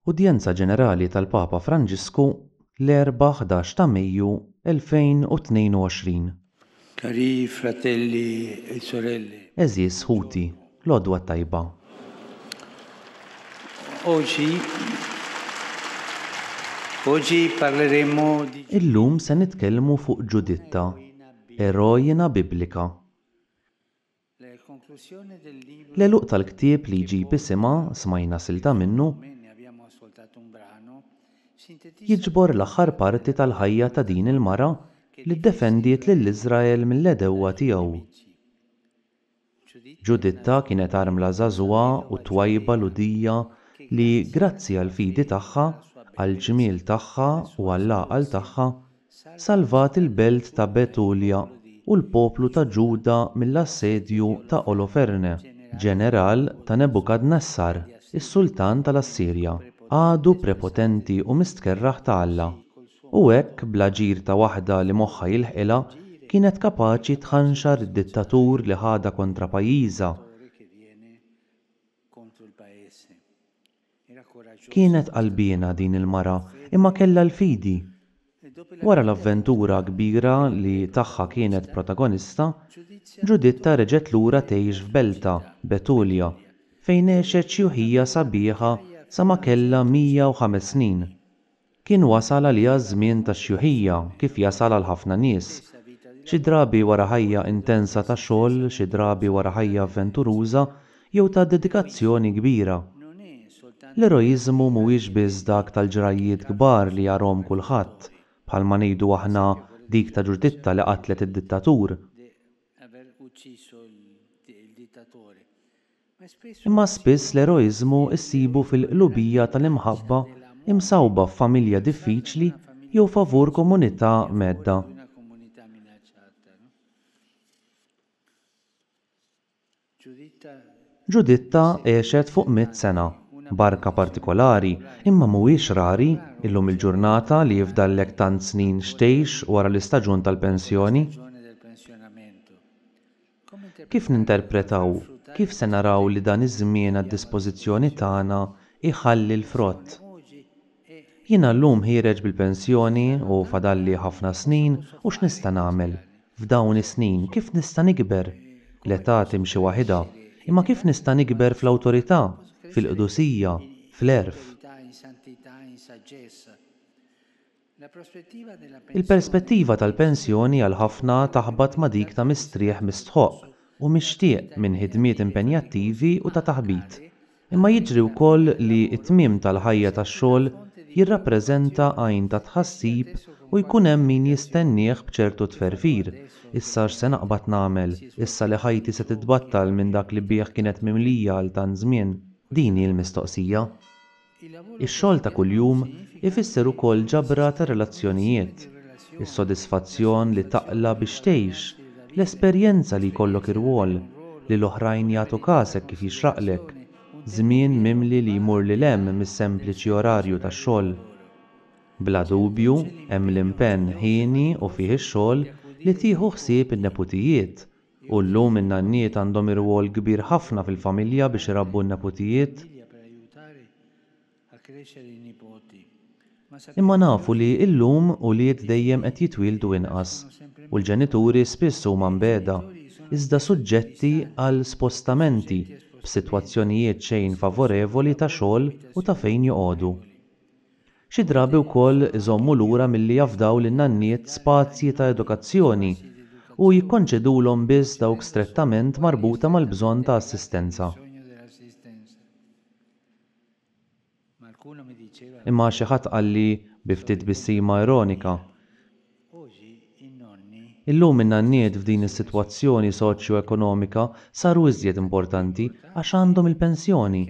Udjenza Ġenerali tal-Papa Franġisku l-Erbgħa 11 ta' Mejju 2022. Cari fratelli e sorelle. Għeżież ħuti, l-Għodwa t-Tajba. Oggi Oggi parleremo di. Illum se nitkellmu fuq Ġuditta, eroina biblika. L-għeluq tal-ktieb li jġib isimha, smajna silta minnu, jiġbor l-aħħar parti tal-ħajja ta' din il-mara li ddefendiet lil Iżrael mill-għedewwa tiegħu. Ġuditta kienet armla żagħżugħa u twajba Lhudija li, grazzi għall-fidi tagħha, għall-ġmiel tagħha u għall-għaqal tagħha, Salvat il-belt ta' Betulja u l-poplu ta' Ġuda mill-assedju ta' Oloferne, ġeneral ta' Nebukadnessar, is-sultan tal-Assirja, għadu prepotenti u mistkerrah ta' Alla. U hekk, bl-aġir ta' waħda li moħħha jilħqilha, kienet kapaċi tħanxar id-dittatur li ħadha kontra pajjiżha, Kienet qalbiena din il-mara imma kellha l-fidi. Wara l-avventura kbira li tagħha kienet protagonista, Ġuditta reġgħet lura tgħix f'beltha, Betulja, fejn għexet xjuħija sabiħa sa ma kellha 105 snin. Kien wasal għaliha ż-żmien tax-xjuħija, kif jasal għal ħafna nies. Xi drabi wara ħajja intensa ta' xogħol, xi drabi wara ħajja avventuruża jew ta' dedikazzjoni kbira. L-eroiżmu mhuwiex biss dak tal-ġrajjiet kbar li jarahom kulħadd, bħalma ngħidu aħna dik ta' Ġuditta li qatlet id-dittatur. Imma spiss l-eroiżmu ssibu fil-qlubija tal-imħabba imsawwba f'familja diffiċli jew favur komunità mhedda. Giuditta għexet fuq mitt sena. Barka partikolari, imma mhuwiex rari, illum il-ġurnata li jifdallek tant snin x'tgħix wara l-istaġun tal-pensjoni. Kif ninterpretaw, kif se naraw li dan iż-żmien għad-dispożizzjoni tagħna jħalli l-frott? Jiena llum ħiereġ bil-pensjoni u fadalli ħafna snin u x'nista' nagħmel, f'dawn is-snin, kif nista' nikber? L-età timxi waħidha, imma kif nista' nikber fl-awtorità, fil-qdusija, fl-għerf? Il-perspettiva tal-pensjoni għal ħafna taħbat ma' dik ta' mistrieħ mistħoqq u mixtieq minn ħidmiet impenjattivi u ta' taħbit. Imma jiġri wkoll li t-tmiem tal-ħajja tax-xogħol jirrappreżenta għajn ta' tħassib u jkun hemm min jistennieh b'ċertu tferfir, issa x'se naqbad nagħmel, issa li ħajti se titbattal minn dak li bih kienet mimlija għal tant żmien? Din hi l-mistoqsija. Ix-xogħol ta' kuljum ifisser ukoll ġabra ta' relazzjonijiet, is-sodisfazzjon li taqla' biex tgħix, l-esperjenza li jkollok irwol, li l-oħrajn jagħtu kas hekk kif jixraqlek, żmien mimli li jmur lil hemm mis-sempliċi orarju tax-xogħol. Bla dubju, hemm l-impenn hieni u fih ix-xogħol li tieħu ħsieb in-neputijiet, U llum in-nanniet għandhom irwol kbir ħafna fil-familja biex irabbu n-neputijiet. Imma nafu li llum ulied dejjem qed jitwieldu inqas u l-ġenituri spiss huma mbegħda, iżda suġġetti għal spostamenti b'sitwazzjonijiet xejn favorevoli ta' xogħol u ta' fejn joqogħdu. Xi drabi wkoll iżommu lura milli jafdaw lin-nanniet spazji ta' edukazzjoni u jikkonċedulhom biss dawk strettament marbuta mal-bżonn ta' assistenza. Imma xi ħadd qalli, bi ftit tbissima ironika, Illum in-nanniet f'din is-sitwazzjoni soċjoekonomika saru iżjed importanti għax għandhom il-pensjoni!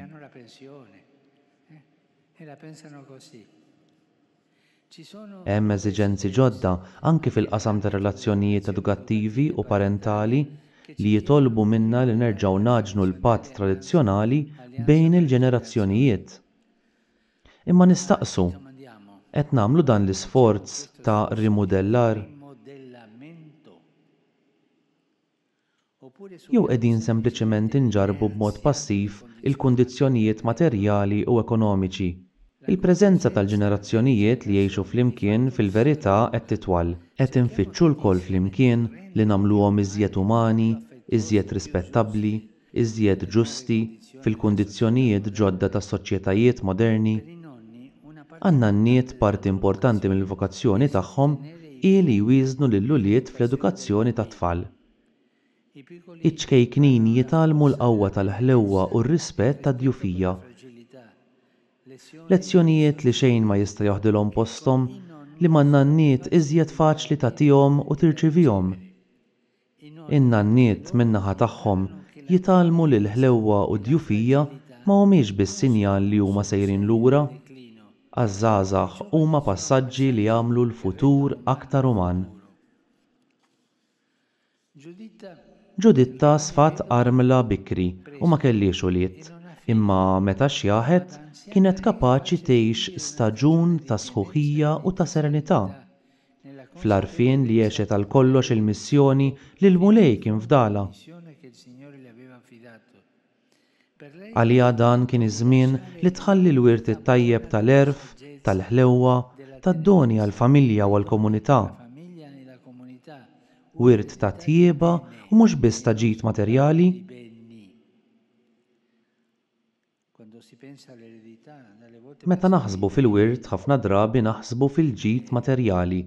Hemm eżiġenzi ġodda anki fil-qasam tar-relazzjonijiet edukattivi u parentali li jitolbu minna li nerġgħu ngħaġnu l-patt tradizzjonali bejn il-ġenerazzjonijiet. Imma nistaqsu, qed nagħmlu dan l-isforz ta' rimudellar? jew qegħdin sempliċement inġarrbu b'mod passiv il-kundizzjonijiet materjali u ekonomiċi. Il-preżenza tal-ġenerazzjonijiet li jgħixu flimkien fil-verità qed titwal. Qed infittxu lkoll flimkien li nagħmluhom iżjed umani, iżjed rispettabbli, iżjed ġusti fil-kundizzjonijiet ġodda tas-soċjetajiet moderni? Għan-nanniet parti importanti mill-vokazzjoni tagħhom hi li jwieżnu lill-ulied fl-edukazzjoni tat-tfal. Iċ-ċkejknin jitgħallmu l-qawwa tal-ħlewwa u r-rispett tad-djufija. Lezzjonijiet li xejn ma jista' joħdilhom posthom, li man-nanniet iżjed faċli tagħtihom u tirċivihom. In-nanniet min-naħa tagħhom jitgħallmu li l-ħlewwa u d-djufija ma humiex biss sinjal li huma sejrin lura. Għaż-żgħażagħ huma passaġġi li jagħmlu l-futur aktar uman. Ġuditta sfat armla bikri u ma kellhiex ulied, imma meta xjaħet kienet kapaċi tgħix staġun ta' sħuħija u ta' serenità. Fl-għarfien li għexet għal kollox il-missjoni li l-Mulej kien fdalha. Għaliha dan kien iż-żmien li tħalli l-wirt it-tajjeb tal-għerf, tal-ħlewwa, tad-doni għall-familja u għall-komunità. Wirt ta' tjieba u mhux biss ta' ġid materjali. Meta naħsbu fil-wirt ħafna drabi naħsbu fil-ġid materjali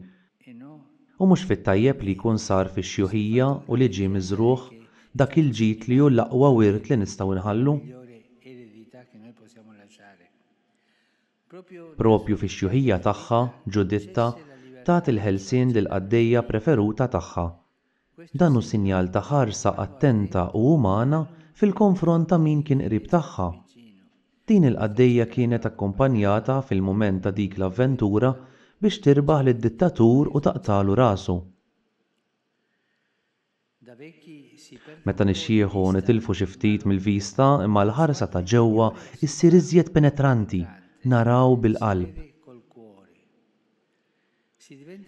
u mhux fit-tajjeb li jkun sar fix-xjuħija u li ġie miżrugħ, dak il-ġid li hu l-aqwa wirt li nistgħu nħallu. Proprju fix-xjuħija tagħha, Ġuditta tagħti l-ħelsien lill-qaddejja preferuta tagħha. Dan hu sinjal ta' ħarsa attenta u umana fil-konfront ta' min kien qrib tagħha. Din il-qaddejja kienet akkumpanjata fil-mument ta' dik l-avventura biex tirbaħ lid-dittatur u taqtagħlu rasu. Meta nixjieħu nitilfu xi ftit mill-vista imma l-ħarsa ta' ġewwa ssir iżjed penetranti, naraw bil-qalb.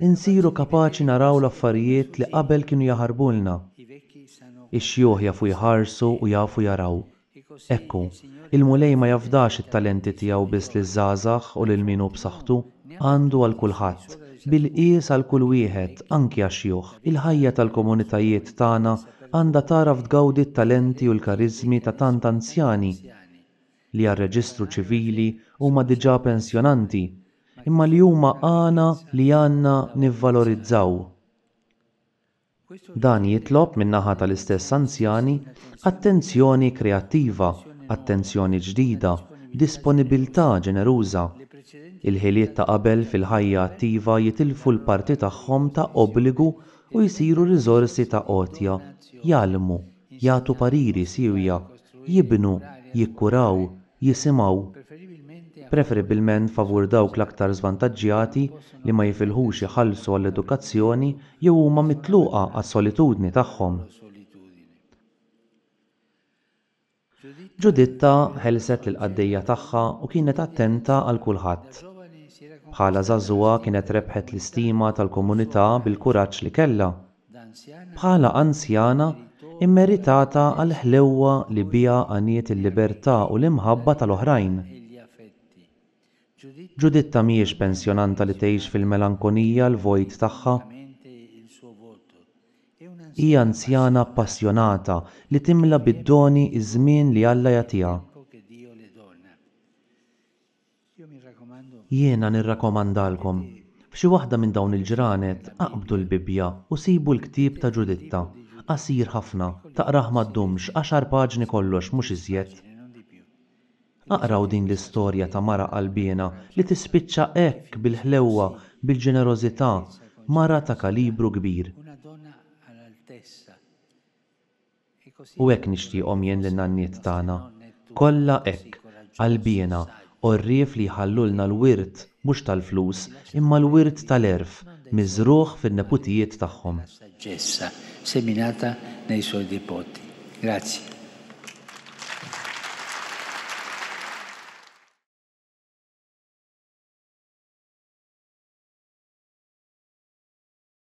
Insiru kapaċi naraw l-affarijiet li qabel kienu jaħarbulna. Ix-xjuħ jafu jħarsu u jafu jaraw, Hekk hu. Il-Mulej ma jafdax it-talenti tiegħu biss liż-żgħażagħ u lil min hu b'saħħtu. Għandu għal kulħadd, bil-qies għal kull wieħed, anki għax-xjuħ. Il-ħajja tal-komunitajiet tagħna għandha tagħraf tgawdi t-talenti u l-kariżmi ta' tant anzjani li għar-reġistru ċivili huma diġà pensjonanti, imma li huma għana li għandna nivvalorizzaw. Dan jitlob min-naħa tal-istess anzjani attenzjoni kreattiva, attenzjoni ġdida, disponibilità ġeneruża. Il-ħiliet ta' qabel fil-ħajja attiva jitilfu l-parti tagħhom ta' obbligu u jsiru riżorsi ta' għotja, jgħallmu, jagħtu pariri siewja, jibnu, jikkuraw, jisimgħu, preferibbilment favur dawk l-aktar żvantaġġjati li ma jifilħux iħallsu għall-edukazzjoni jew huma mitluqa għas-solitudni tagħhom. Ġuditta ħelset lill-qaddejja tagħha u kienet attenta għal kulħadd. Bħala żagħżugħa kienet rebħet l-istima tal-komunità bil-kuraġġ li kellha. Bħala anzjana mmeritata għall-ħlewwa li biha għaniet il-libertà u l-imħabba tal-oħrajn, Giuditta mhijiex pensjonanta li tgħix fil-melankonija l-vojt tagħha. Hi anzjana appassjonata li timla bid-doni ż-żmien li Alla jagħtiha. Jiena nirrakkomandalkom, f'xi waħda minn dawn il-ġranet aqbdu l-Bibbja u sibu l-ktieb ta' Ġuditta, qasir ħafna, taqrah ma ddumx għaxar paġni kollox mhux iżjed. Aqraw din l-istorja ta' mara qalbiena li tispiċċa hekk bil-ħlewwa, bil-ġenerożità, mara ta' kalibru kbir. U hekk nixtieqhom jien lin-nanniet tagħna, kollha hekk, qalbiena, għorrief li jħallulna l-wirt mhux tal-flus imma l-wirt tal-għerf miżrugħ fin-neputijiet tagħhom.